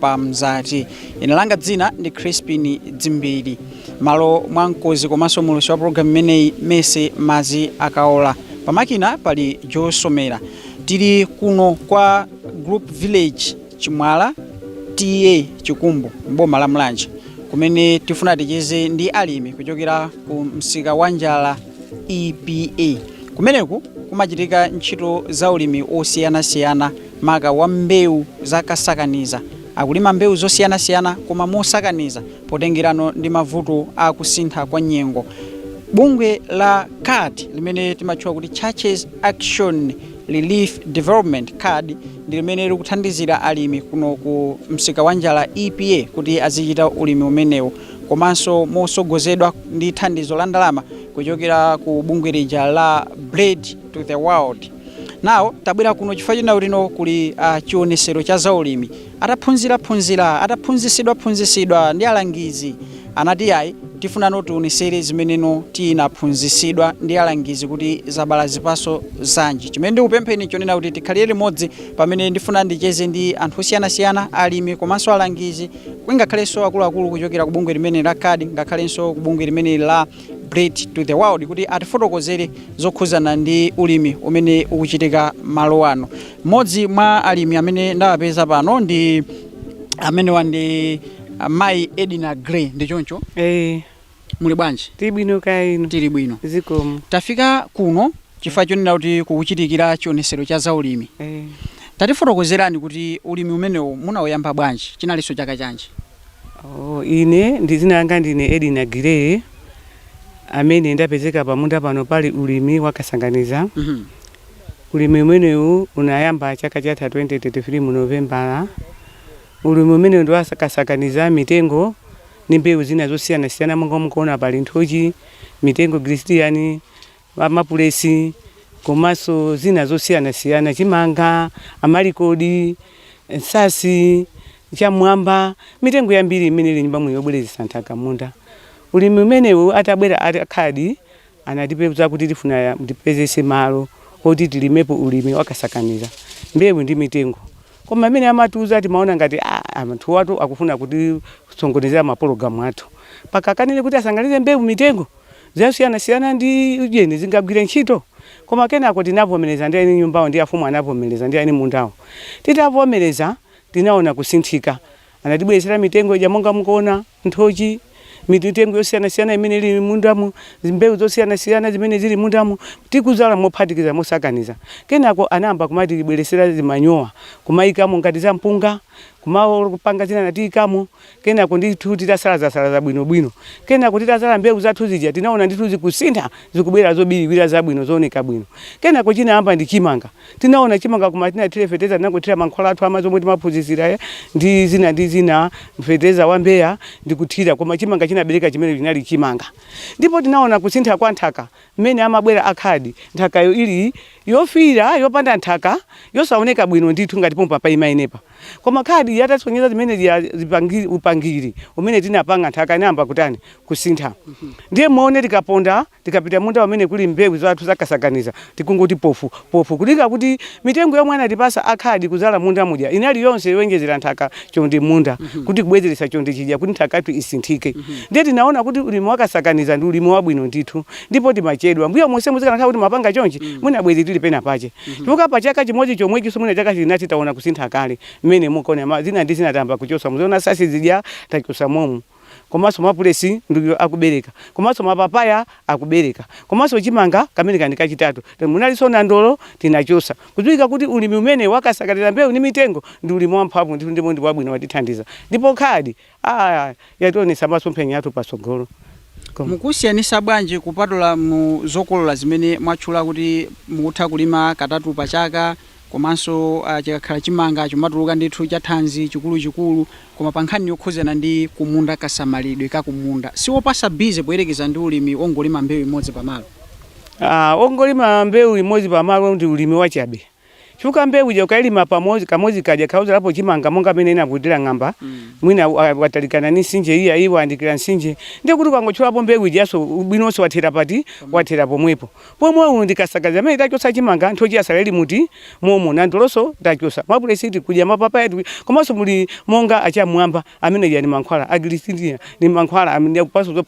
pa mzati ine langa dzina ndi crispin dzimbiri malo mwa mkozi komanso mulusi wa pologalamu imeneyi mese mazi akaola pamakina pali josomera tili kuno kwa group village chimwala ta chikumbu mboma la mulanje kumene tifuna ticheze ndi alimi kuchokera ku msika wa njala epa kumeneku kumachitika ntchito za ulimi wosiyanasiyana maka wa mbewu za kasakaniza. Akulima mbewu zosiyanasiyana koma mosakaniza potengerano ndi mavuto a kusintha kwa nyengo. Bungwe la CARD limene timatchula kuti Churches Action Relief Development CARD ndi limene likuthandizira alimi kuno ku msika wa njala EPA kuti azichita ulimi umenewu komanso mosogozedwa ndi thandizo la ndalama kuchokera ku bungwe lija la Bread for the World. nawo tabwera kuno chifukwa chonena kuti kuno kuli uh, chionesero cha zaulimi ataphunzira phunzira ataphunzisidwa phunzisidwa ndi alangizi anati ayi tifunano tionesere zimeneno tinaphunzisidwa ndi alangizi kuti zabala zipaso zanji chimene ndikupempheni chonena kuti tikhalire limodzi pamene ndifuna ndicheze ndi anthu osiyanasiyana alimi komanso alangizi ngakhalenso akuluakulu kuchokera ku bungwe limene la CARD ngakhalenso ku bungwe limene la Bread for the World kuti atifotokozere zokhuzana ndi ulimi umene ukuchitika malo ano. Mmodzi mwa alimi amene ndawapeza pano ndi amenewa ndi ah, Mayi Edina Gray ndi choncho Eh, muli bwanji? Tili bwino kaya inu. Tili bwino. Zikomo. Tafika kuno chifukwa chonena kuti kukuchitikira chionesero cha zaulimi. Eh. Tatifotokozerani kuti ulimi umenewu munauyamba bwanji? Chinalinso chaka chanji? Oh, ine ndi dzina langa ndine Edina Gray amene ndapezeka pamunda pano pali ulimi wa kasanganiza. Mhm. Ulimi umenewu unayamba chaka chatha 2023 mu Novembala. Ulimi umenewu ndi wa kasanganiza mitengo ndi mbewu zina zosiyanasiyana monga mukuona pali nthochi, mitengo gilisidiya, amapulesi komanso zina zosiyanasiyana, chimanga, amalikodi, nsatsi, cham'mwamba, mitengo yambiri imene ili m'munda muno yobwezeretsa nthaka m'munda. Ulimi umenewu atabwera a CARD anatipeza kuti tifuna tipeze malo oti tilimepo ulimi wakasakaniza, mbewu ndi mitengo. Koma mmene amatiuza timaona ngati anthuwatu akufuna kutisokonezera mapologalamu athu, mpaka akanene kuti asanganize mbewu mitengo. zosiyanasiyana ndi ujeni zingagwire ntchito? Koma kenako tinavomereza ndi eni nyumbawo ndi afumu anavomereza ndi eni mundawo. Titavomereza tinaona kusinthika. Anatibweretsera mitengo ija monga mukuona nthochi, mitengo yosiyanasiyana imene ili m'mundamu, mbewu zosiyanasiyana zimene zili m'mundamu tikudzala mophatikiza, mosakaniza. Kenako anayamba kumatibweretsera zimanyowa kumaikamo ngati za mpunga, kumapanga zina anatiikamo. kenako ndithu titasalaza-salaza bwino-bwino, kenako titazala mbewu zathu zija tinaona ndithu zikusintha zikubwera zobiliwira zabwino zooneka bwino. Kenako chinayamba ndi chimanga, tinaona chimanga koma sitinathire fetereza tinangothira mankhwala athu amadzi omwe timaphunzitsidwa aja ndi zina ndi zina, fetereza wa mbeya ndi kuthira koma chimanga chinabereka chimene chinali chimanga. Ndipo tinaona kusintha kwa nthaka mmene amabwera a khadi nthakayo ili yofiira yopanda nthaka yosaoneka bwino ndithu ngati pompa paima inepa. Koma khadi yatasonyeza zimene zija upangi, upangiri umene tinapanga nthaka inayamba kutani kusintha. Ndiye muone tikaponda tikapita munda umene kuli mbewu zathu zakasakaniza tikungoti pofu pofu kulinga kuti mitengo yomwe anatipasa a khadi kudzala m'munda muja inali yonse yoonjezera nthaka chonde m'munda kuti kubwezeretsa chonde chija kuti nthaka yathu isinthike. Ndiye tinaona kuti ulimi wakasakaniza ndi ulimi wabwino ndithu ndipo timachedwa. Mbuyo monsemu zikanakhala kuti timapanga chonchi mwina bwezi tili pena pache. Mhm. Chifukwa pa chaka chimodzi chomwechinso mwina chaka chachinayi taona kusintha kale mmene mukuoneramu zina ndi zina tayamba kuchotsa muziona sasizidya tachotsa momu komanso mapulesi ndi awo akubereka komanso mapapaya akubereka komanso chimanga kamene kano ndi kachitatu munalinso nandolo tinachotsa kudziwikadi kuti ulimi umene wakasakalira mbewu ndi mitengo ndi ulimi wamphamvu ndithu ndipo ndi wabwino watithandiza ndipo khadi a yationetsa masomphenya athu patsogolo. Kom. Mukusiyanitsa bwanji kupatula mu zokolola zimene mwatchula kuti mukutha kulima katatu pa chaka komanso chikakhala chimanga chomatuluka ndithu cha thanzi chikuluchikulu koma pa nkhani yokhudzana ndi kumunda kasamalidwe ka kumunda siwopatsa busy poyerekeza ndi ulimi wongolima mbewu imodzi pa malo? a Wongolima mbewu imodzi pa malo ndi ulimi wachabe. Chifukwa mbewu ija ukailima pakamodzi kamodzi kaja kaudzalapo chimanga monga mmene inavutira ng'amba mwina wa- watalikana ndi mtsinje iya iyi wayandikira mtsinje ndiye kuti ukangochotsapo mbewu ijanso ubwino onse wathera pati wathera pomwepo pomwe uyu ndi kasakaniza amene tachotsa chimanga nthochi yatsala ili mmunda momo nandolonso tachotsa mapulesi tikudya mapapaya tikudya komanso muli monga achamwamba amene aja ndi mankhwala agilirisidiya ndi mankhwala amene akupanganso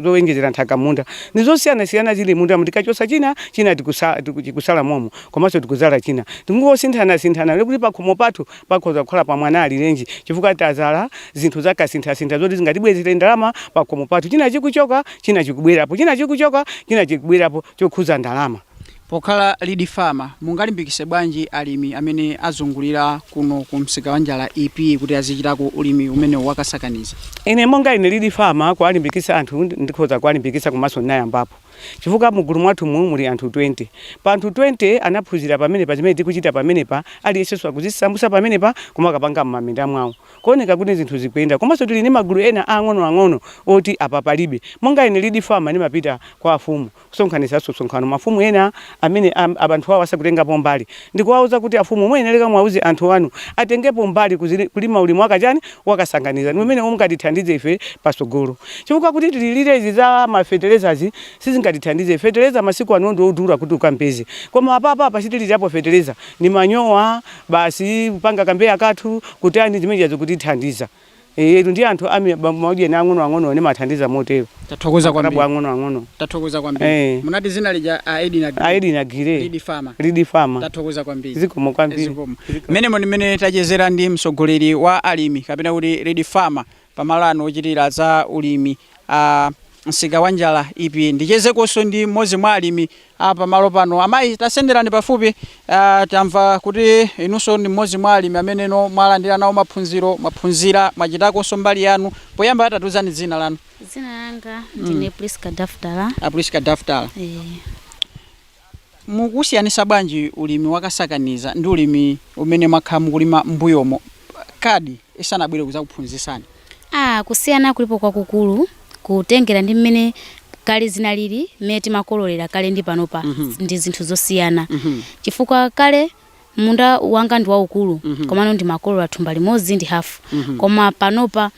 zowonjezera nthaka mmunda ndi zosiyanasiyana zili mmundamu tikachotsa china china tikusa- tiku- chikutsala momo komanso tikuzala china tikungosinthanasinthana ndiye kuti pakhomo pathu pakhoza kukhala pa mwana alirenji chifukwa tazala zinthu zakasinthasintha zoti zingatibweretsere ndalama pakhomo pathu china chikuchoka china chikubwerapo china chikuchoka china chikubwerapo chokhuza ndalama Pokhala Lead Farmer, mungalimbikise bwanji alimi amene azungulira kuno ku msika wa Njala EP kuti azichitako ulimi umenewu wa kasakaniza? Ine monga ine Lead Farmer, kuwalimbikisa anthu ndikhoza kuwalimbikisa komanso ndinayambapo chifukwa mu gulu mwathumu muli anthu 20. Pa anthu 20 anaphunzira pamenepa zimene tikuchita pamenepa, aliyensenso akuzisamutsa pamenepa kumakapanga m'maminda mwawo. Kuoneka kuti zinthu zikuyenda. Komanso tili ndi magulu ena aang'onoang'ono oti apa palibe. Monga ine Lead Farmer ndimapita kwa afumu. Kusonkhanitsanso msonkhano mafumu ena amene a, a anthu awo asakutengapo mbali ndi kuwauza kuti afumu muyenereka muwauze anthu anu atengepo mbali ku zili, kulima ulimi waka chani, wakasakaniza ndi umene ungatithandize ife patsogolo chifukwa kuti tililire izi za ma fetelezazi sizingatithandize. Feteleza masiku ano ndi odula kuti ukampeze koma apapa apa sitithirapo feteleza ndi manyowa basi kupanga ka mbeya kathu kutani zimene zija zikutithandiza. Eh, ndi anthu ami ba- magulu ang'ono ang'ono ndimathandiza motero. Tathokoza Kalabu kwambiri. ang'ono ang'ono. Tathokoza kwambiri. Eh. Munati dzina lija a Edina Giri. Aidi na gire. Lead Farmer. Lead farmer. Tathokoza kwambiri. Zikomo kwambiri. Zikomo. Mmenemo ndi mmene tachezera ndi mtsogoleri wa alimi kapena kuti Lead Farmer pamalo ano ochitira za ulimi a msika wa Njala EP ndichezekonso ndi mmodzi mwa alimi a pamalo pano. Amayi tasenderani pafupi, a tamva kuti inunso ndi mmodzi mwa alimi amenenso mwalandira nawo maphunziro, mwaphunzira, mwachitakonso mbali yanu. Poyamba tatiuzani dzina lanu. Dzina langa ndine Priska Daftala. A Priska Daftala, Eh, mukusiyanisa bwanji ulimi wakasakaniza ndi ulimi umene mwakhala mukulima mbuyomo kadi isanabwere kuzakuphunzisani? A, Kusiyana kulipo kwakukulu kutengera ndi mmene kale zinalili, mmene timakololera kale ndi panopa ndi zinthu zosiyana. Chifukwa kale munda wanga ndi waukulu komano ndimakolola thumba limodzi ndi hafu. Koma panopa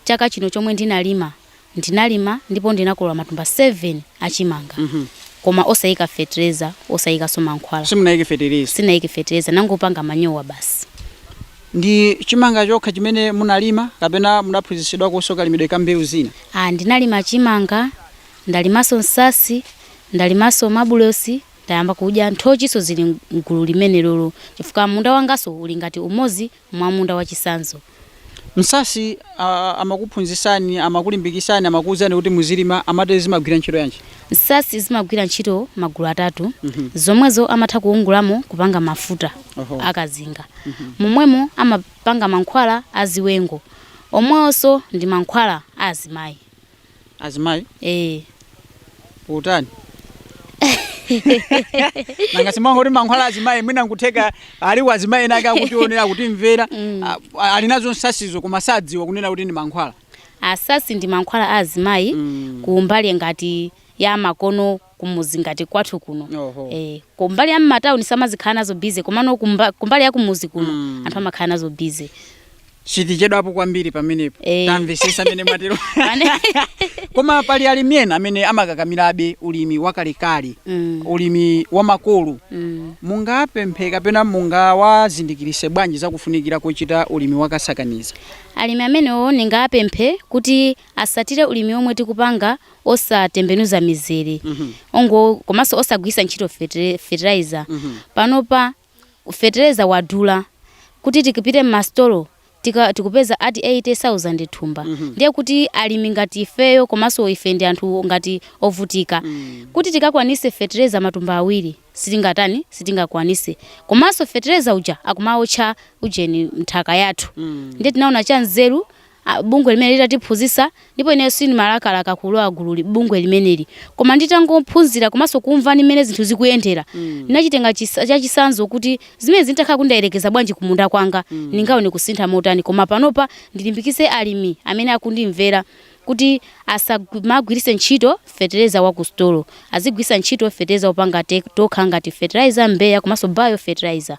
chaka chino chomwe ndinalima, ndinalima ndipo ndinakolola matumba 7 a chimanga. Koma osaika fetereza, osaikanso mankhwala. Simunaike fetereza? Sindinaike fetereza, ndangopanga manyowa basi. Ndi chimanga chokha chimene munalima kapena munaphunzitsidwakonso kalimidwe ka mbewu zina? A. Ndinalima chimanga, ndalimanso nsatsi, ndalimanso mabulosi, ndayamba kudya nthochinso zili m'gulu limenelolo chifukwa munda wanganso uli ngati umodzi mwa munda wachitsanzo. Nsatsi a, amakuphunzitsani, amakulimbikitsani, amakuuzani kuti muzilima, amati zimagwira ntchito yanji? Nsatsi zimagwira ntchito magulu atatu, zomwezo amatha kuyungulamo kupanga mafuta Oho. akazinga. Momwemo amapanga mankhwala a ziwengo, omwewonso ndi mankhwala a azimayi. Azimayi Eh, utani? Nanga simangoti mankhwala azimayi mwina nkutheka ali wazimayi ena ake akutionera akutimvera Mm. a- a- ali nazo nsatsizo koma sadziwa kunena kuti ndi mankhwala. Masamba ndi mankhwala a azimayi mm. kumbali ngati ya makono kumuzi ngati kwathu kuno eh, kumbali ya mmatauni samazikhala nazo bize komano kumba, kumbali ya kumuzi kuno mm. anthu amakhala nazo bize sitichedwapo kwambiri pamenepo eh. tamvesesa amene mwatero koma pali alimi ena amene amakakamirabe ulimi wakalekale mm. ulimi wamakolo mm. mungapemphe kapena mungawazindikirise bwanji zakufunikira kochita ulimi wakasakaniza Alimi amenewo ndingawapemphe kuti asatire ulimi omwe tikupanga osatembenuza mizere ongo komanso osagwiritsa ntchito fetere fertilizer panopa fetereza wadula kuti tikapite mmasitolo tikupeza ati 80,000 thumba ndiye kuti alimi ngati ifeyo komanso ife ndi anthu ngati ovutika kuti tikakwanitse fetereza matumba awiri sitingatani sitingakwanise komanso fetereza uja akumaotcha ujeni nthaka yathu mm. ndiye tinaona cha nzeru ah, bungwe limene litatiphunzisa ndipo ineyo sindimalakalaka kulowa gululi bungwe limeneli koma nditangophunzira komanso kumva ni mmene zinthu zikuyendera mm. ndinachitenga chisa- chachisanzo kuti zimene zintakhala kundayerekeza bwanji kumunda kwanga mm. ningaone kusintha kotani koma panopa ndilimbikise alimi amene akundimvera kuti asamagwiritse ntchito fetereza wa kusitolo, azigwiritsa ntchito fetereza wopanga tokha ngati fertilizer, Mbeya komanso bio fertilizer.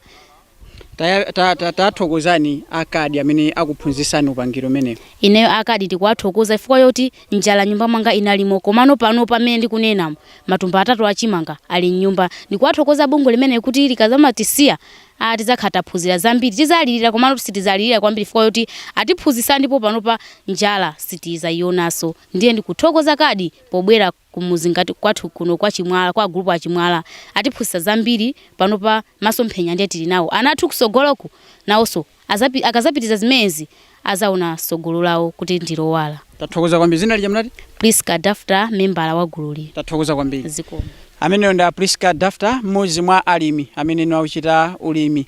Tathokozani Akadi amene akuphunzitsani upangiri umenewu. Ineyo Akadi ndikuwathokoza chifukwa choti njala m'nyumba mwanga inalimo komano panopa pamene ndikunenamu matumba atatu a chimanga ali m'nyumba. Ndikuwathokoza bungwe limeneli kuti likadzamatisiya atidzakhala taphunzira zambiri. Tidzalirira komatu sitidzalirira kwambiri chifukwa choti atiphunzitsa ndipo panopa njala sitidzaionanso. Ndiye ndikuthokoza Kadi pobwera kumudzi ngati kwathu kuno kwa Chimwala, kwa gulupu a Chimwala. Atiphunzitsa zambiri, panopa masomphenya ndiye tili nawo. Ana athu kutsogoloku nawonso Azapi, akazapitiza zimenezi azaona sogolo lawo kuti ndilowala. Tathokoza kwambiri. Zina lija munati? Prisca Dafter membala wa gululi. Tathokoza kwambiri. Zikomo. Ameneyo ndi a Prisca Dafter mmodzi mwa alimi ameneno akuchita ulimi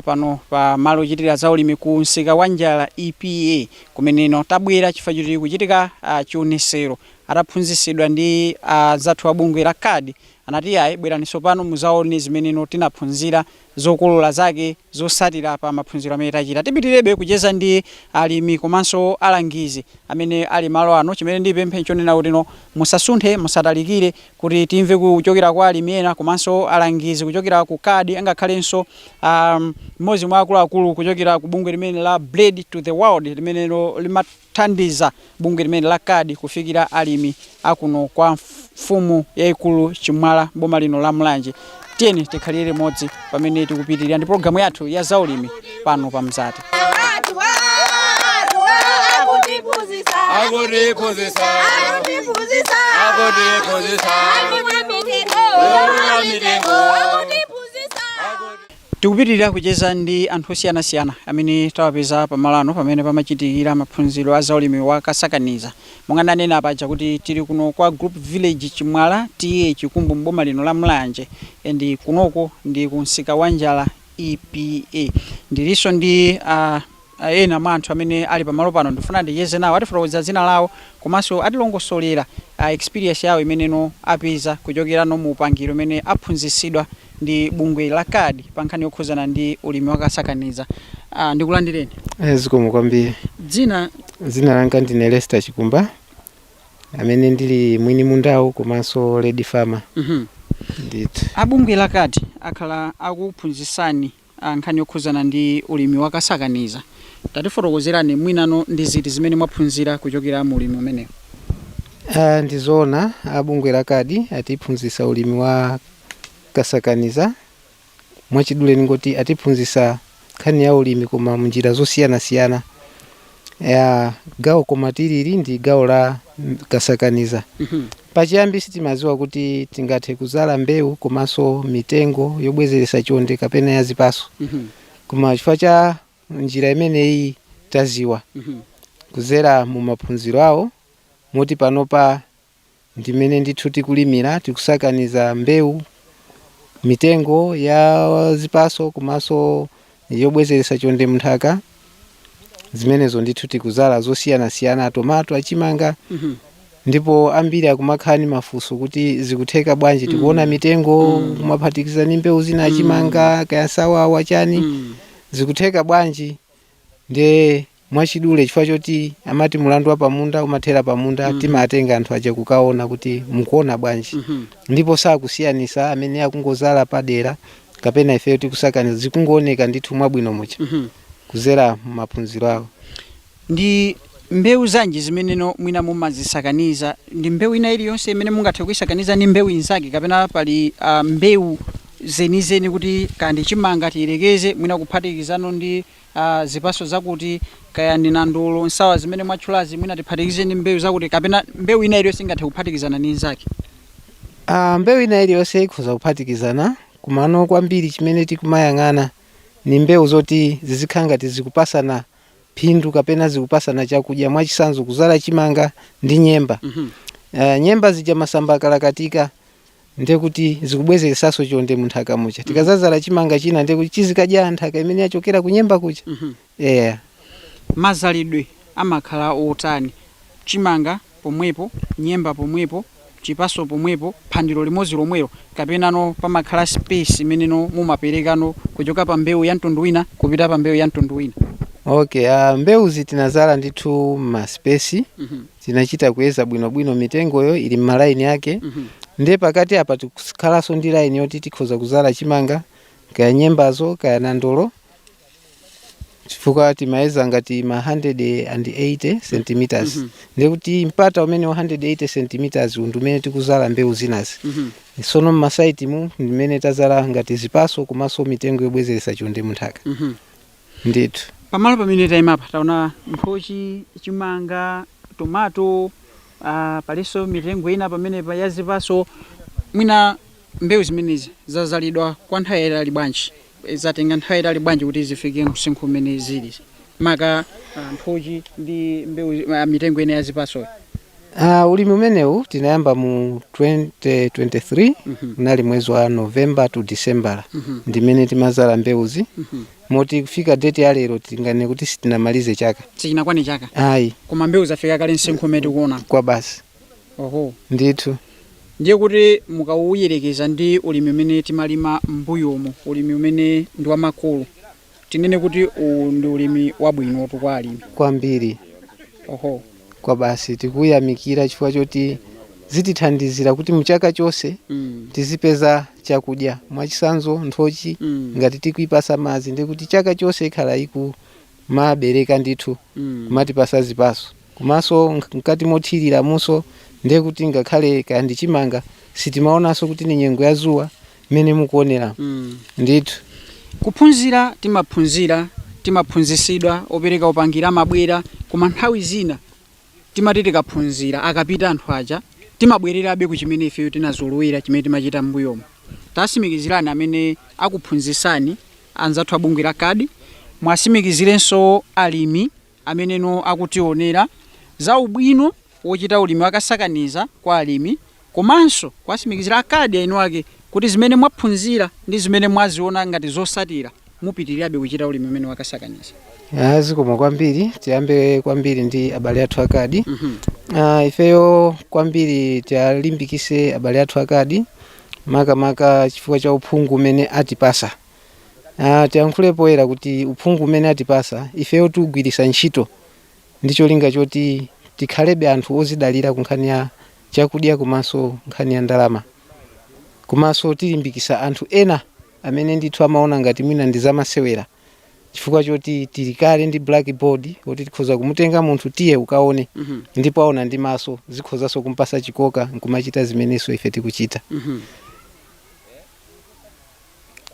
pano pa malo ochitira za ulimi ku msika wa Njala EPA kumeneno tabwera chifukwa choti kukuchitika chionesero ataphunzitsidwa ndi anzathu a bungwe la card anati iyayi bwerani tsopano muzaone zimeneno tinaphunzira zokolola zake zotsatira pa maphunziro amene tachita. Tipitilirebe kucheza ndi alimi komanso alangizi amene ali malo ano. Chimene ndipemphe nchonena kuti no musasunthe, musatalikire kuti timve kuchokera kwa alimi ena komanso alangizi kuchokera ku card angakhalenso ahm mmodzi mwa akuluakulu kuchokera ku bungwe limene la Bread for the World limeneno limat. kuthandiza bungwe limeneli la CARD kufikira alimi a kuno kwa mfumu yaikulu Chimwala m'boma lino la Mulanje. Tiyeni tikhalire limodzi pamene tikupitirira ndi pologalamu yathu ya zaulimi pano pa Mzati. Tikupitilira kucheza ndi anthu osiyanasiyana amene tawapeza pamalo ano pamene pamachitikira maphunziro a zaulimi wa kasakaniza. Monga ndinanena paja kuti tili kuno kwa Group Village Chimwala TA Chikumbu m'boma lino la Mulanje and kunoko ndi ku Msikawanjala EPA. Ndilinso ndi a. Ena mwa anthu amene ali pamalo pano ndifuna ndicheze nawo atifotokozere dzina lawo komanso atilongosolere experience yawo imene no apeza kuchokera no mu upangiri umene aphunzitsidwa ndi bungwe la CARD pa nkhani yokhuzana ndi ulimi wakasakaniza. Uh, ndikulandireni. Eh, zikomo kwambiri. Dzina? Dzina langa ndine Lester Chikumba amene ndili mwini mundawu komanso lead farmer. Mhm. Mm Ndithu. A bungwe la CARD akhala akuphunzitsani a Nkhani yokhuzana ndi ulimi wakasakaniza, tatifotokozerani mwinano ndi ziti zimene mwaphunzira kuchokera mu ulimi umenewu? A, Ndi zoona a bungwe la CARD atiphunzitsa ulimi wa kasakaniza. Mwachidule ndingoti atiphunzitsa nkhani ya ulimi koma m'njira zosiyanasiyana. ya gawo koma tilinso ndi gawo la kasakaniza pachiyambi sitimadziwa kuti tingathe kudzala mbewu komanso mitengo yobwezeretsa chonde kapena ya zipaso koma chifukwa cha njira imeneyi taziwa kudzera mu maphunziro awo moti panopa ndimene ndithu tikulimira tikusakaniza mbewu mitengo ya zipaso komanso yobwezeretsa chonde mnthaka zimenezo ndithu tikuzala zosiyanasiyana tomato achimanga Mhm. ndipo ambiri akumakhala ni mafunso kuti zikutheka bwanji tikuona mitengo kumaphatikiza ni mbewu zina achimanga kaya nsawawa chani Mm. zikutheka bwanji ndiye mwachidule chifukwa choti amati mulandu wa pamunda umathera pamunda mm. timatenga anthu aja kukaona kuti mukuona bwanji mm -hmm. ndipo sakusiyanisa amene akungozala padera kapena ifeyo tikusakaniza zikungooneka ndithu mwabwino mucha mm -hmm. kuzera m'maphunziro awo ndi mbewu zanji zimene no mwina mumazisakaniza ndi mbewu ina iliyonse imene mungathe kuisakaniza ndi mbewu inzake kapena pali uh, mbewu zenizeni kuti kaya ndi chimanga tiyerekeze mwina kuphatikizano ndi uh, zipaso zakuti kaya ndi nandolo nsawa zimene mwatchulazi mwina tiphatikize ndi mbewu zakuti kapena mbewu ina iliyonse ingathe kuphatikizana ndi nzake Ah, mbewu ina iliyonse ikhoza kuphatikizana komano kwambiri chimene tikumayang'ana ni mbewu zoti zizikhala ngati zikupasana phindu kapena zikupasana chakudya mwachisanzo kuzala chimanga ndi nyemba mm -hmm. uh, nyemba zija masamba akayoyoka ndiye kuti zikubwezeresanso chonde mu nthaka muja tikadzadzala chimanga china ndiye kuti chizikadya nthaka imene yachokera kunyemba kuja yeah. mazalidwe amakhala otani chimanga pomwepo nyemba pomwepo chipaso pomwepo phando limodzi lomwelo kapenano pamakhala space imeneno mumaperekano kuchoka pa mbewu ya mtundu wina kupita pa mbewu ya mtundu wina okay uh, mbewuzi tinazala ndithu m'ma space tinachita kuyeza bwinobwino mitengoyo ili m'malaini ake ndiye pakati apa tikhalanso ndi laini yoti tikhoza kuzala chimanga kaya nyembazo kaya nandolo chifukwa timayeza ngati ma 180 centimeters ndiye kuti mpata umene wa 180 centimeters ndi umene tikuzala mbewu zinazi sono mmasaitimu ndimene tazala ngati zipaso komanso mitengo yobwezeretsa chonde munthaka ndithu. Pamalo pamene taimapa taona nthochi, chimanga, tomato, aah palinso mitengo ina pamenepa ya zipatso. Mwina mbewu zimenezi zadzalidwa kwa nthawi yaitali bwanji, zatenga nthawi yaitali bwanji kuti zifike msinkhu umene zili, maka nthochi ndi mbewu, mitengo ina ya zipatsoyi? Uh, ulimi umenewu tinayamba mu 2023 unali mwezi wa november to december ndimene timazala mbewuzi moti kufika date ya lero tinganene kuti sitinamalize chaka sichinakwane chaka ayi koma mbewu zafika kale msinkhu umene tikuona kwa basi oho ndithu ndiye kuti mukauyerekeza ndi ulimi umene timalima m'mbuyomo ulimi umene ndi wamakolo Tinene kuti uwu ndi ulimi wabwinotu kwa alimi? kwambiri Oho. kwabasi tikuyamikira chifukwa choti zitithandizira kuti mchaka chonse Mm. tizipeza chakudya mwachisanzo nthochi Mm. ngati tikuipasa madzi ndikuti chaka chonse ikhala ikumabereka ndithu Mm. kumatipasa zipaso komanso nk- mkati mothiriramunso ndekuti ngakhale kaya ndi chimanga sitimaonanso kuti ni nyengo ya zuwa mmene mukuonera Mm. ndithu kuphunzira timaphunzira timaphunzisidwa opereka upangira amabwera koma nthawi zina timati tikaphunzira akapita anthu aja timabwererabe ku chimene ifeyo tinazolowera chimene timachita m'mbuyomo tasimikizirani amene akuphunzisani anzathu abungwe la kadi muwasimikizirenso alimi ameneno akutionera, za ubwino wochita ulimi wa kasakaniza kwa alimi komanso kuwatsimikizira a CARD eni ake kuti zimene mwaphunzira ndi zimene mwaziona ngati zosatira mupitilirabe kuchita ulimi umene wa kasakaniza. Ah, zikomo kwambiri tiyambe kwambiri ndi abale athu akadi mm -hmm. ah, ifeyo kwambiri tiyalimbikise abale athu akadi makamaka chifukwa cha uphungu umene atipasa Ah, tiyankhule poyera kuti uphungu umene atipasa ifeyo tiugwiritsa ntchito ndi cholinga choti tikhalebe anthu ozidalira ku nkhani ya chakudya komanso nkhani ya ndalama komanso tilimbikisa anthu ena amene ndithu amaona ngati mwina ndi zamasewera chifukwa choti tili kale ndi blackboard kuti tikhoza kumutenga munthu tiye ukaone ndipo aona ndi maso zikhozanso kumpasa chikoka n'kumachita zimenenso ife tikuchita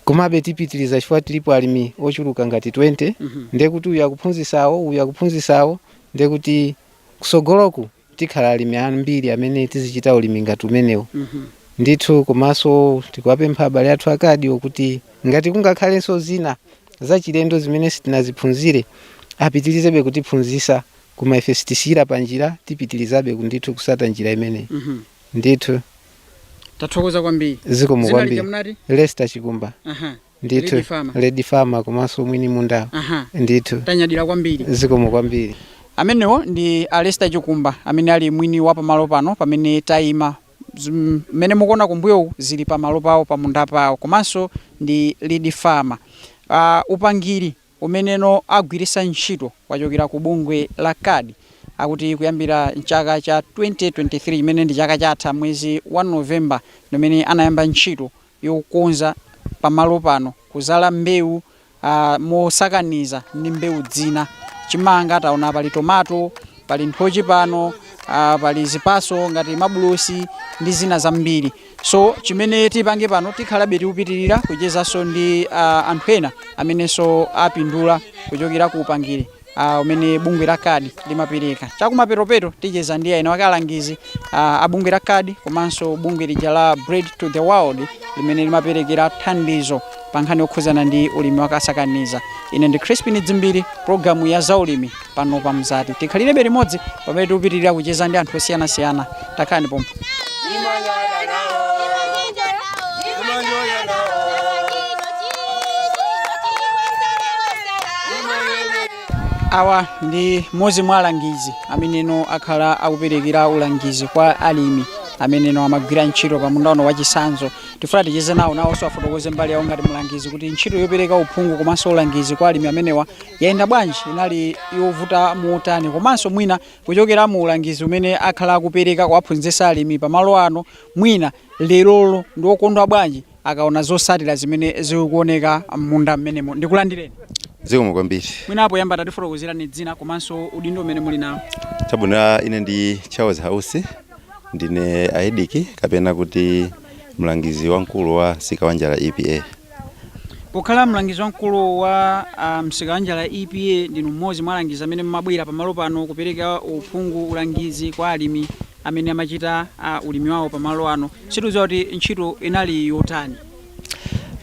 komabe tipitiriza chifukwa tilipo alimi ochuluka ngati 20 ndiye kuti uyu akuphunzisawo uyu akuphunzisawo ndiye kuti kusogoloku tikhala alimi ambiri amene tizichita ulimi ngati umenewu ndithu komanso tikuwapempha abale athu a CARD-wo kuti ngati kungakhalenso zina zachilendo zimene sitinaziphunzire apitirizebe kutiphunzisa koma ife sitisiyira panjira tipitirizabe ndithu kusata njira imeneyi ndithu Tathokoza kwambiri. zikomo Dzina lija kwambiri munati? lesta chikumba Aha. ndithu Lead Farmer. lead farmer komanso mwini mundawo Aha. ndithu Tanyadira kwambiri. zikomo kwambiri amenewo ndi alesta chikumba amene ali mwini wa pamalo pano pamene tayima Zum- mmene mukuona kumbuyoku zili pamalo pawo pamunda pawo komanso ndi lead farmer uh, upangiri umeneno agwirisa ntchito wachokera ku bungwe la card akuti kuyambira mchaka cha 2023 chimene ndi chaka chatha mwezi wa November ndimene anayamba ntchito yokonza pamalo pano kuzala mbewu mosakaniza ndi mbewu zina chimanga taona pali tomato pali nthochi pano pali zipaso ngati mabulosi ndi zina zambiri. so chimene tipange pano tikhalabe tikupitirira kuchezanso ndi uh, anthu ena amenenso apindula kuchokera ku upangiri uh, umene bungwe la kadi limapereka chakumaperopeto ticheza ndi enaake alangizi uh, a bungwe la kadi komanso bungwe lija la bread for the world limene limaperekera thandizo pa nkhani yokhudzana ndi ulimi wa kasakaniza. Ine ndi Chrispin Dzimbiri, pulogalamu ya za ulimi pano pa Mzati. Tikhalirebe limodzi pamene tikupitirira kucheza ndi anthu osiyanasiyana. Takhalani pompo. Awa ndi mmodzi mwa alangizi ameneno akhala akuperekera ulangizi kwa alimi ameneno amagwira ntchito pa munda uno wachisanzo tifuna ticheze nawo nawonso afotokoze mbali yawo ngati mlangizi kuti ntchito yopereka uphungu komanso ulangizi kwa alimi amenewa yayenda bwanji inali yovuta motani komanso mwina kuchokera mu ulangizi umene akhala akupereka kuwaphunzitsa alimi pamalo ano mwina lerolo ndi okondwa bwanji akaona zotsatira zimene zikuoneka m'munda mmenemo ndikulandireni zikomo kwambiri mwina poyamba tatifotokozerani dzina komanso udindo umene muli nawo chabwino ine ndi charles house ndine AEDC kapena kuti mlangizi wamkulu wa Msikawanjala EPA pokhala mlangizi wamkulu wa ah, Msikawanjala EPA ndinu mmodzi mwa alangizi amene mmabwera pamalo pano kupereka uphungu ulangizi kwa alimi amene amachita ah, ulimi wawo pamalo ano sitikudziwa kuti ntchito inali yotani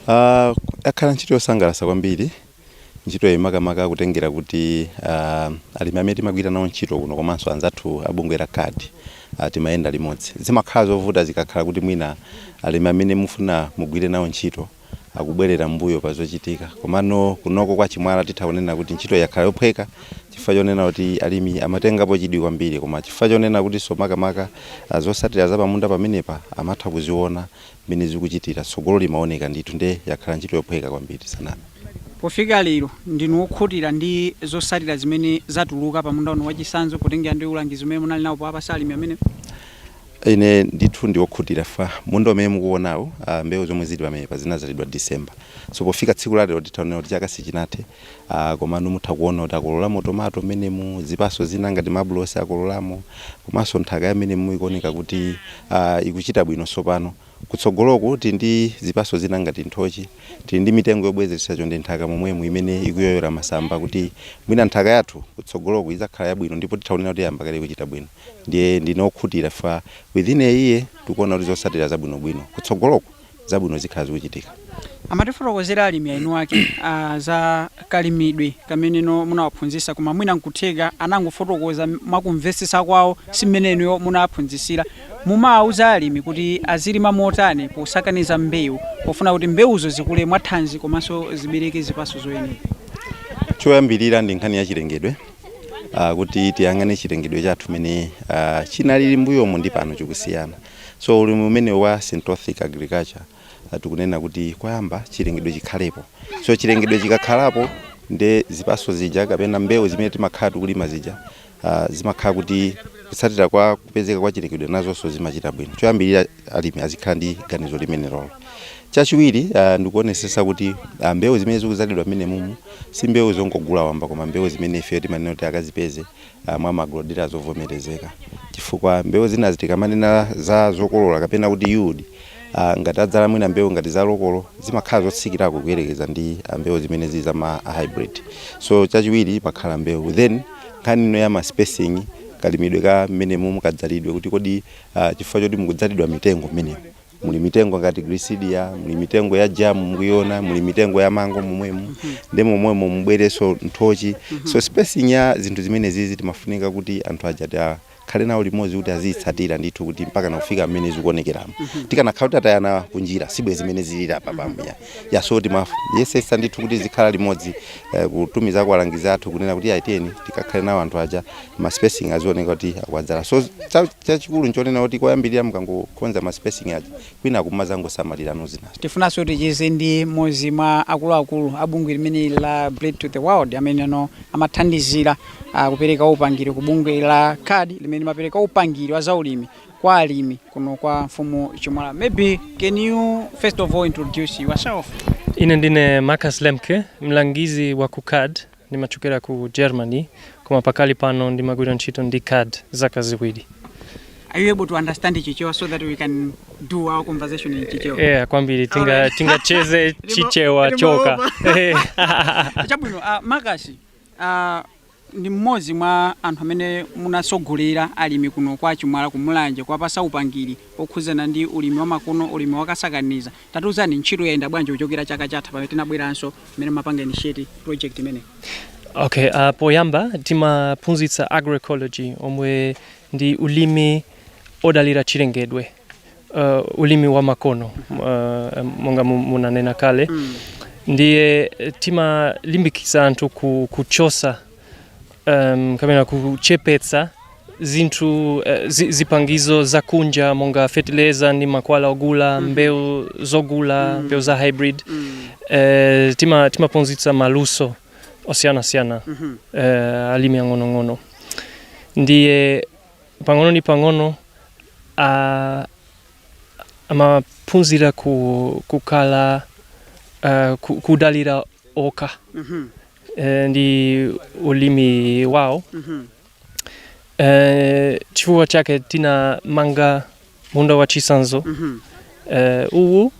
Ah, yakhala ntchito yosangalatsa kwambiri Ntchitoyi makamaka kutengera kuti alimi amene timagwira nawo ntchito kuno komanso anzathu a bungwe la card timayenda limodzi. Zimakhala zovuta zikakhala kuti mwina alimi amene mufuna mugwire nawo ntchito akubwerera m'mbuyo pa zochitika. Komano kunoko kwa Chimwala titha kunena kuti ntchitoyi yakhala yophweka chifukwa chonena kuti alimi amatengapo chidwi kwambiri koma chifukwa chonena kutinso makamaka zotsatira zapamunda pamenepa amatha kuziona mmene zikuchitira, tsogolo limaoneka ndithu nde yakhala ntchito yophweka kwambiri tisaname. Pofika lero, ndinu okhutira ndi zotsatira zimene zatuluka pa munda uno wachisanzo potengera ndi ulangizi umene munali nawo powapasa alimi amenewa? Ine ndithu ndi okhutira chifukwa munda umene mukuonawu, mbewu zomwe zili pamenepa zinadzalidwa December. So pofika tsiku la lero titha kunena kuti chaka sichinathe Aaa komano mutha kuona kuti akololamo tomato mmenemu, zipaso zina ngati mabulosi akololamo komanso nthaka ya mmenemu ikuoneka kuti aah ikuchita bwino tsopano. Kutsogoloku tili ndi zipaso zina ngati nthochi, tili ndi mitengo yobwezeretsa chonde nthaka momwemu imene ikuyoyola masamba kuti mwina nthaka yathu kutsogoloku idzakhala yabwino ndipo titha kunena kuti yayamba kale kuchita bwino. Ndiye ndine wokhutira chifukwa within a year tikuona kuti zotsatira zabwinobwino kutsogoloku. zabwino zikhala zikuchitika. Amatifotokozera alimi eni ake a za kalimidwe kamene inu munawaphunzisa koma mwina nkutheka anangofotokoza mwakumvesesa kwao simmene inuyo munawaphunzisira. Mumawauza alimi kuti azilima motani posakaniza mbeu pofuna kuti mbeuzo zikule mwathanzi komanso zibeleke zipaso zoyenera? Choyambilira ndi nkhani ya chilengedwe kuti tiyang'ane chilengedwe chathu mene chinalili mbuyomu ndi pano chikusiyana. So ulimi umenewu wa syntropic agriculture tikunena kuti koyamba chilengedwe chikhalepo. So chilengedwe chikakhalapo nde zipatso zija kapena mbewu zimene timakhala tikulima zija zimakhala kuti kutsatira kwa kupezeka kwa chilengedwe nazonso zimachita bwino. Choyambirira alimi azikhala ndi ganizo limenelolo. Chachiwiri ndikuonesesa kuti mbewu zimene zikudzalidwa mmenemumu si mbewu zongogula wamba koma mbewu zimene ifeyo timanena kuti akazipeze mwa ma agro-dealer zovomerezeka chifukwa mbewu zinazi tikamanena za zokolola kapena kuti yield ngati adzala mwina mbewu ngati za lokolo zimakhala zotsikirako kuyerekeza ndi mbewu zimene zili za ma hybrid. So chachiwiri imakhala mbewu then nkhani ino ya ma spacing kalimidwe ka mmene mukadzalidwe kuti kodi chifukwa choti mukadzalidwa mitengo mmenemo. muli mitengo ngati gliricidia muli mitengo ya jamu mukuyona muli mitengo ya mango momwemo mhm. nde momwemo mubwereso nthochi mhm. so spacing ya zinthu zimenezizi timafunika kuti anthu aja tikhale nawo limodzi kuti aziyitsatira ndithu kuti mpaka nakufika mmene zikuonekeramo mhm. tikanakhala kuti tatayana kunjira sibwenzi mmene zilira apa pambuya ya so timayesetsa ndithu kuti tizikhala limodzi eh, kutumiza kwa alangizi athu kunena kuti aiteni tikakhale nawo anthu aja ma spacing azioneka kuti akwadzala so cha- chachikulu nchonena kuti koyambirira mukangokonza ma spacing aja kwina kumazangosamalira nozinazo tifunanso ticheze ndi mmodzi mwa akuluakulu a bungwe limene la Bread for the World amenewo amathandizira ah, kupereka upangiri ku bungwe la CARD limene limapereka upangiri wa zaulimi kwa alimi kuno kwa mfumu Chimwala. Maybe can you first of all introduce yourself? Ine ndine Marcus Lemke, mlangizi wa ku CARD, ndimachokera ku Germany, koma pakali pano ndimagwira ntchito ndi CARD zaka ziwiri. Are you able to understand Chichewa so that we can do our conversation in Chichewa? Yeah, kwambiri tinga Alright. tingacheze Ndimo- Chichewa chokha. over. Eh. Chabwino, uh, Marcus, uh, Ndi mmodzi mwa anthu amene mumatsogolera alimi kuno kwa Chimwala ku Mulanje kuwapasa upangiri okhudzana ndi ulimi wamakono, ulimi wakasakaniza. Tatiuzani ntchito yayenda bwanji kuchokera chaka chatha pamene tinabweranso mmene mumapanga initiate project imeneyi? Okay, uh, poyamba timaphunzitsa agroecology omwe ndi ulimi odalira chilengedwe. uh, ulimi wa makono uh, monga mu- munanena kale mm. ndiye eh, timalimbikitsa anthu ku, kuchosa um, kapena kuchepetsa zinthu uh, zi, zipangizo za kunja monga fetileza ndi mankhwala ogula mm. mbewu zogula mm. mbewu za hybrid mm. uh, tima, timaphunzitsa maluso osiyanasiyana mm -hmm. uh, alimi ang'onong'ono ndiye pang'ono ndi pang'ono ah, amaphunzira ku, kukhala ah, ku, kudalira okha Mhm, eh, ndi ulimi wawo mhm, eh, chifukwa chake tinamanga munda wa chisanzo Mhm. eh, uwu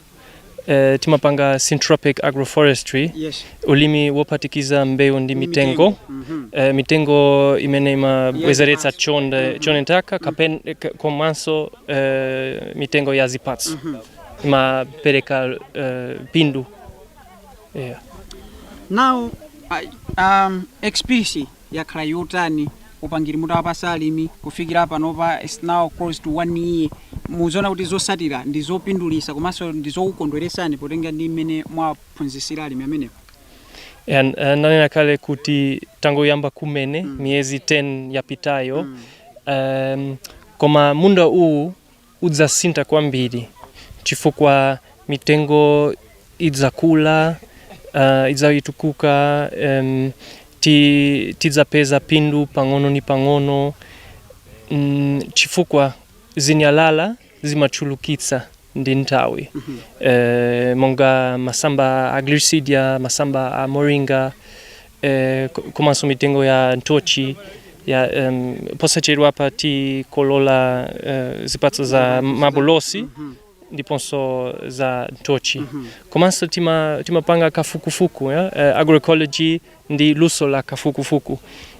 eh, timapanga syntropic agroforestry Yes. ulimi wopatikiza mbewu ndi mitengo Mhm. eh, mitengo imene imabwezeretsa Yes, chonde m'nthaka kapen ka- komanso eh, mitengo ya zipatso imapereka eh, phindu yeah. Now, I, um, XPC yakhala yotani upangiri mutawapasa alimi kufikira panopa is now close to one year muziona kuti zosatira ndi zopindulisa komanso ndi zokukondweresani potenga ndi mmene mwaphunzisira alimi amenewo And, uh, nanena kale kuti tangoyamba kumene mm. miyezi 10 yapitayo mm. um, koma munda uwu udzasintha kwambiri chifukwa mitengo idzakula, uh, idzayitukuka um, ti, tidzapeza phindu pang'ono ni pang'ono mm, chifukwa zinyalala zimachulukitsa ndi nthawi mm -hmm. eh, monga masamba a gliricidia masamba a moringa eh, ko- komanso mitengo ya nthochi ya em, posachedwapa tikolola eh, zipatso za mabulosi ndiponso za nthochi komanso tima- timapanga kafukufuku ya, eh, agroecology ndi luso la kafukufuku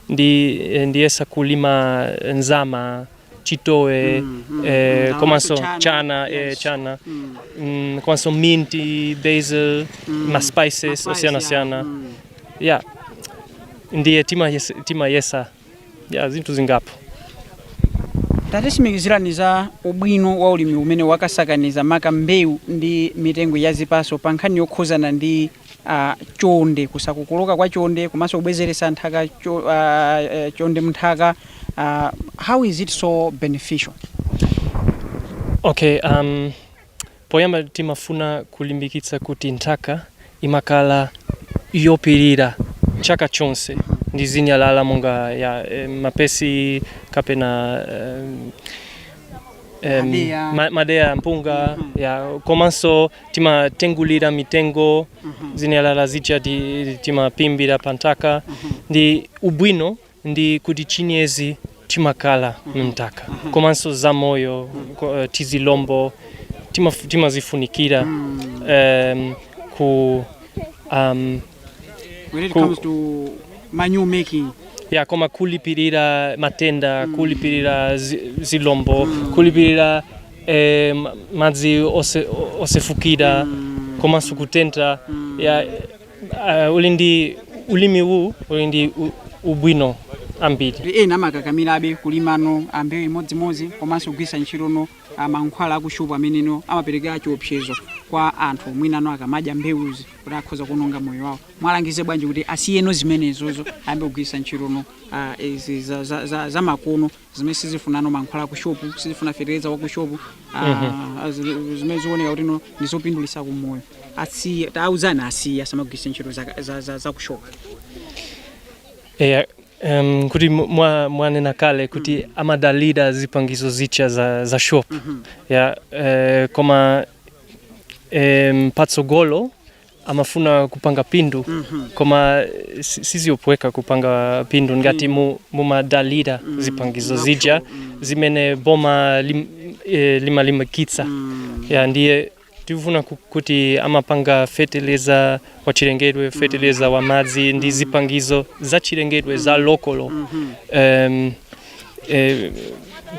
ndi eh, ndiyesa kulima nzama chitowe eh, komanso chana, chana eh, chana mm. mm, komanso minti basil mm. ma spices osiyanasiyana mm. yeah ndiye tima yes- timayesa yeah zinthu zingapo tatisimikizirani za ubwino wa ulimi umene wakasakaniza maka mbewu ndi mitengo ya zipaso pa nkhani yokhuzana ndi a chonde kusakokoloka kwa chonde komanso kubwezeretsa nthaka cho, uh, uh, chonde mnthaka uh, how is it so beneficial okay um, poyamba timafuna kulimbikitsa kuti nthaka imakhala yophimbira chaka chonse ndi zinyalala monga ya eh, mapesi kapena eh, em, Madeya. ma- madeya mpunga Mhm. ya komanso timatengulira mitengo Mhm. zinyalala zija ti- timaphimbira panthaka Mhm. ndi ubwino ndi kuti chinyezi chimakhala mnthaka komanso zamoyo ko- eh, tizilombo timaf- timazifunikira Mm. em, ku um, when it Ku- comes to manure making ya koma kulipirira matenda kulipirira zi- zilombo kulipirira eh, ma- madzi ose- osefukira komanso kutentha ya eh, uli ndi ulimi uwu uli ndi u- ubwino ambiri kuti ena amakakamirabe kulimano a mbewu imodzimodzi komanso kugwiritsa ntchitono ah, mankhwala akuchupa ameneno amapereka chiopsezo kwa anthu mwinano akamadya mbewuzi kuti akhoza kuononga moyo wawo mwalangize bwanji kuti asiyeno zimenezozo ayambe kugwiritsa ntchitono ah, izi za- za- za- za makono zimene sizifunano mankhwala a kushopu sizifuna fetereza wa kushopu ah, zi- zimene zioneka kuti no ndi zopindulitsa ku moyo asiye tawauzani asiye asamagwiritse ntchito za- za- za- za kushopu eya um, kuti mu- mwa- mwanena kale kuti amadalira zipangizo zija za, za shop ya eh, koma em, patsogolo amafuna kupanga pindu koma si- sizophweka kupanga pindu ngati mu- mumadalira zipangizo zija zimene boma lim, eh, limalimbikitsa ya ndiye tifuna ku- kuti amapanga feteleza wa chilengedwe feteleza wa madzi ndi zipangizo za chilengedwe za lokolo um, eh,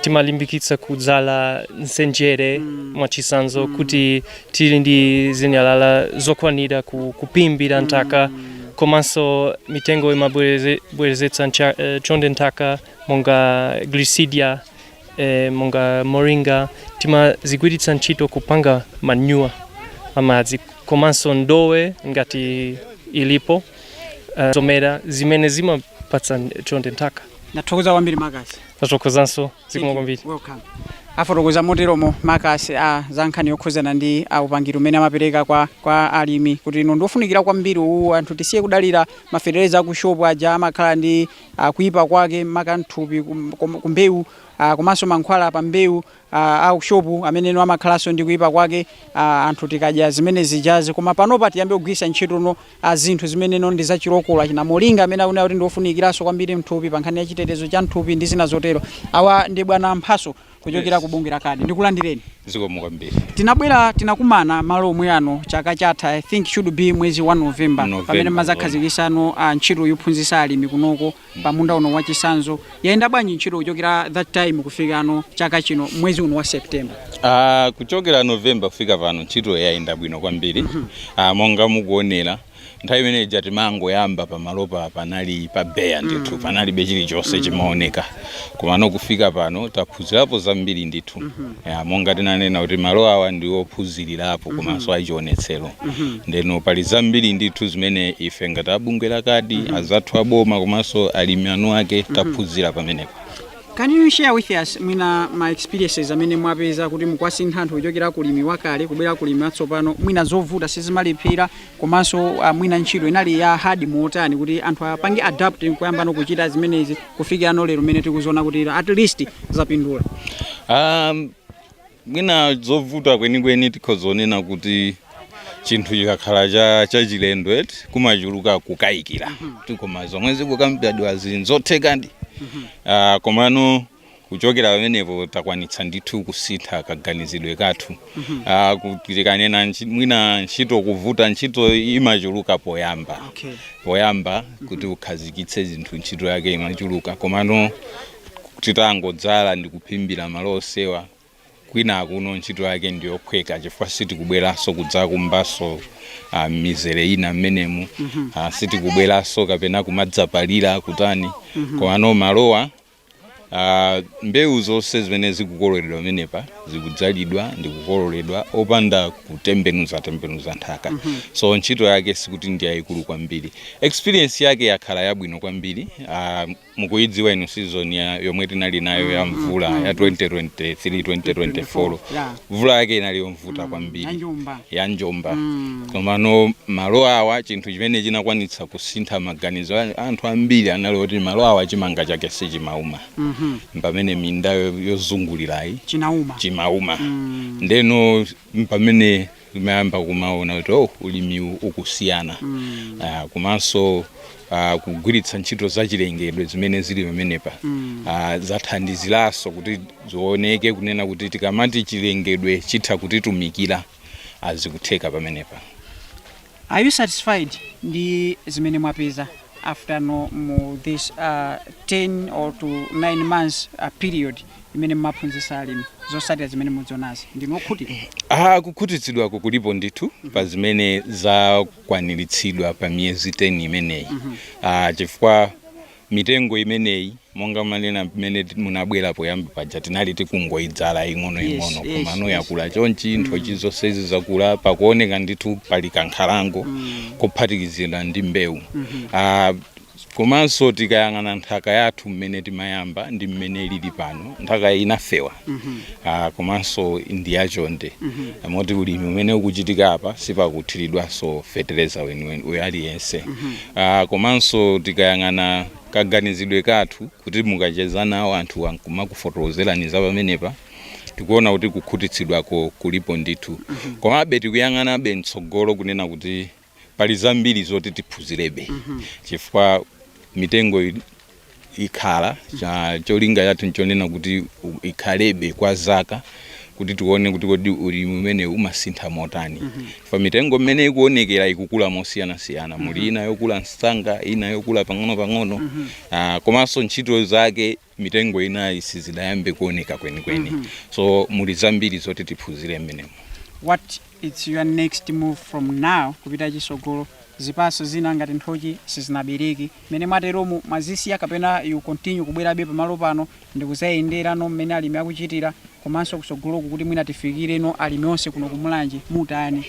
timalimbikitsa kudzala nsenjere mwachitsanzo kuti tili ndi zinyalala zokwanira ku, kupimbira nthaka komanso mitengo imabwerezetsa ncha- eh, chonde m'nthaka monga glisidia eh, monga moringa timazigwiritsa ntchito kupanga manyuwa amadzi komanso ndowe ngati ilipo eh, zomera zimene zimapatsa chonde nthaka ndathokoza kwambiri makasi ndathokozanso zikomo kwambiri welcome afotokoza moteromo makasi a za nkhani yokhudzana ndi a upangiri umene amapereka kwa, kwa alimi kuti no ndi wofunikira kwambiri uwu anthu tisiye kudalira maferereza aku shop aja amakhala ndi ah, kuipa kwake makamaka mthupi kum- kum- kumbewu ah, komanso mankhwala pa mbewu a ku shop ameneno amakhalanso ndi kuipa kwake a, anthu tikadya zimene zijazi koma panopa tiyambe kugwiritsa ntchitono a zinthu zimeneno ndi zachilokolo achina moringa amene akunena kuti ndi ofunikiranso kwambiri mthupi pa nkhani ya chitetezo cha mthupi ndi zina zotero awa ndi bwana mphaso kuchokera ku bungwe la kadi ndikulandireni zikomo kwambiri tinabwera tinakumana malo omwe ano chaka chatha i think should be mwezi wa november November, pamene mumadzakhazikitsano a ntchito yophunzitsa alimi kunoko pa munda uno wa chitsanzo yayenda bwanji ntchito kuchokera that time kufikano chaka chino mwezi uno wa september Ah, kuchokera november kufika pano ntchito yayenda bwino kwambiri ah, monga mukuonera nthawi imene ija timangoyamba pamalopa panali pa beya ndithu panalibe chilichonse chimaoneka komano kufika pano taphunzirapo zambiri ndithu Ya, monga tinanena kuti malo awa ndi ophunzirirapo komanso achionetsero ndeno pali zambiri ndithu zimene ife ngati abungwe la kadi anzathu aboma komanso alimi eni ake taphunzira pamenepo Can you share with us mwina ma experiences amene mwapeza kuti mukwasintha anthu kuchokera kulimi wakale kubwera kulimi watsopano mwina zovuta sizimalephera komanso ah, mwina ntchito inali ya hard motani kuti anthu apange adapt nkuyambano kuchita zimenezi kufikirano lero mmene tikuziona kuti at least zapindula Um, mwina zovuta kwenikweni tikhozonena kuti chinthu chikakhala cha chachilendo eti kumachuluka kukayikira kuti koma zomwe zikukambidwa nzothekadi Ah, komano kuchokera pamenepo takwanitsa ndithu kusintha kaganizidwe kathu Mhm. Ah, kuti tikanena ntchi- mwina ntchito kuvuta ntchito imachuluka poyamba Okay. poyamba kuti ukhazikitse zinthu ntchito yake imachuluka komano titangodzala ndi kuphimbira malo onsewa kwinakuno ntchito yake ndiyophweka chifukwa sitikubweranso kudzakumbanso ah, mizere ina mmenemu Mhm. Ah, sitikubweranso kapena kumadzapalira kutani Mhm. komano malowa Ah, mbewu zonse zimene zikukololedwa pamenepa zikudzalidwa ndi kukololedwa opanda kutembenuza tembenuza nthaka so ntchito yake sikuti ndi yayikulu kwambiri experience yake yakhala yabwino kwambiri ah, mukuyidziwa ino season ya yomwe tinali nayo ya mvula ya 2023 2024 Yeah. mvula yake inali yovuta kwambiri Ya njomba. ya njomba komano malo awa chinthu chimene chinakwanitsa kusintha maganizo a anthu ambiri anali oti malo awa chimanga chake sichimauma pamene minda yo- yozungulirayi chinauma chimauma ndeno mpamene amayamba kumaona kuti oh, ulimiwu ukusiyana Ah, komanso ah, kugwiritsa ntchito zachilengedwe zimene zili pamenepa Ah, zathandiziranso kuti Zioneke kunena kuti tikamati chilengedwe chitha kutitumikira ah zikutheka pamenepa. Are you satisfied ndi zimene mwapeza after no mu this uh, 10 or to 9 months uh, period imene mmaphunzitsa alimi zotsatira zimene mukuzionazi ndinu okhutira? Ah kukhutitsidwako kulipo ndithu pa zimene zakwaniritsidwa pa miyezi 10 imeneyi ah chifukwa Mitengo imeneyi monga ndanena mmene munabwera poyamba paja tinali tikungoidzala ing'onoing'ono komano yakula chonchi, nthochi zonsezi zakula, pakuoneka ndithu pali kankhalango kophatikizidwa ndi mbewu. Komanso tikayang'ana nthaka yathu mmene timayamba ndi mmene ilili pano, nthakayi inafewa komanso ndi yachonde moti ulimi umene ukuchitika apa sipakuthiridwanso fetereza weniweni aliyense. Aaa komanso tikayang'ana kaganizidwe kathu kuti mukacheza nawo anthuwa nkumakufotokozerani za pamenepa tikuona kuti kukhutitsidwako kulipo ndithu komabe tikuyang'anabe mtsogolo kunena kuti pali zambiri zoti tiphunzirebe chifukwa mitengoyi ikhala cholinga chathu nchonena kuti ikhalebe kwa zaka kuti tione kuti kodi ulimi umenewu umasintha motani mm -hmm. pa mitengo mmene ikuonekera ikukula mosiyanasiyana mm -hmm. muli mhm. ina yokula msanga ina yokula pang'ono-pang'ono mm -hmm. uh, komanso ntchito zake mitengo inayi sizidayambe kuoneka kwenikweni mm -hmm. so muli zambiri zoti tiphunzire mmenemo what is your next move from now kupita kutsogolo zipaso zina ngati nthochi sizinabereke Mmene mwateromu mwazisiya kapena you continue kubwerabe pamalo pano ndikuzayendera no mmene alimi akuchitira komanso kusogoloku kuti mwina tifikire no alimi onse kuno ku Mulanje mutani?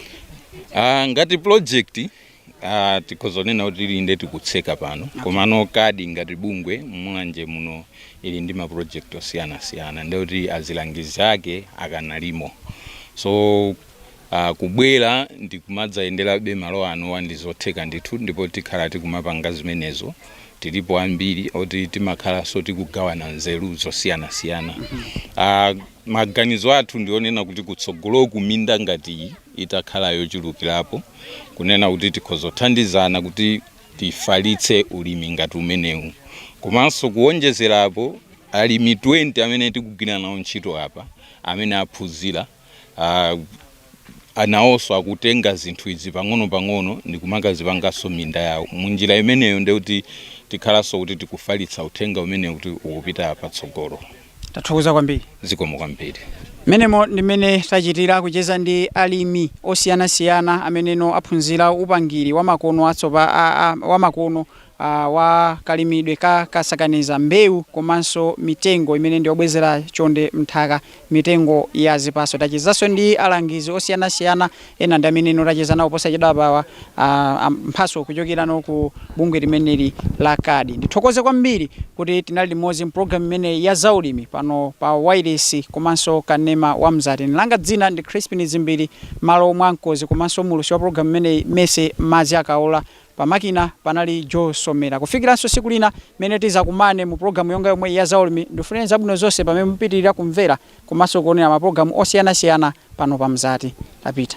Uh, ngati project uh, tikhoza kunena kuti ili nde tikutseka pano okay. Komano kadi ngati bungwe Mulanje muno ili ndi ma project osiyanasiyana ndekuti azilangizi ake akanalimo so uh, kubwera ndi kumadzayenderabe malo anowo ndi zotheka ndithu ndipo tikhala tikumapanga zimenezo tilipo ambiri oti timakhalanso tikugawana nzeru zosiyanasiyana uh, maganizo athu ndi onena kuti kutsogoloku minda ngati iyi itakhala yochulukirapo kunena kuti tikhoza kuthandizana kuti tifalitse ulimi ngati umenewu komanso kuwonjezerapo alimi 20 amene tikugwira nawo ntchito apa amene aphunzira uh, anawonso akutenga zinthu izi pang'ono-pang'ono ndi kumakazipanganso minda yawo munjira imeneyo nde kuti tikhalanso kuti tikufalitsa uthenga umenewu kuti ukupita patsogolo tathokoza kwambiri zikomo kwambiri mmenemo ndimmene tachitira kucheza ndi alimi osiyanasiyana ameneno aphunzira upangiri wamakono atsopa- a- a- wamakono a wa kalimidwe ka kasakaniza mbewu komanso mitengo imene ndi yobwezera chonde m'nthaka, mitengo ya zipatso. Tachezanso ndi alangizi osiyanasiyana, ena ndi ameneno tacheza nawo posachedwapawa, a, a Mphatso kuchokerano ku bungwe limeneli la CARD. Ndithokoze kwambiri kuti tinali limodzi m'programu imeneyi ya zaulimi pano pa wailesi komanso kanema wa Mzati. Ine langa dzina ndi Chrispin Dzimbiri, malo mwa mkonzi komanso muwulutsi wa programu imeneyi Mercy Madzi Akaola. Pamakina panali Joe Somera. Kufikiranso tsiku lina mmene tizakumane mu program yonga yomweyi ya Zaulimi, ndikufunireni zabwino zonse pamene mupitilira kumvera komanso kuonera ma program osiyanasiyana pano pa Mzati. Tapita.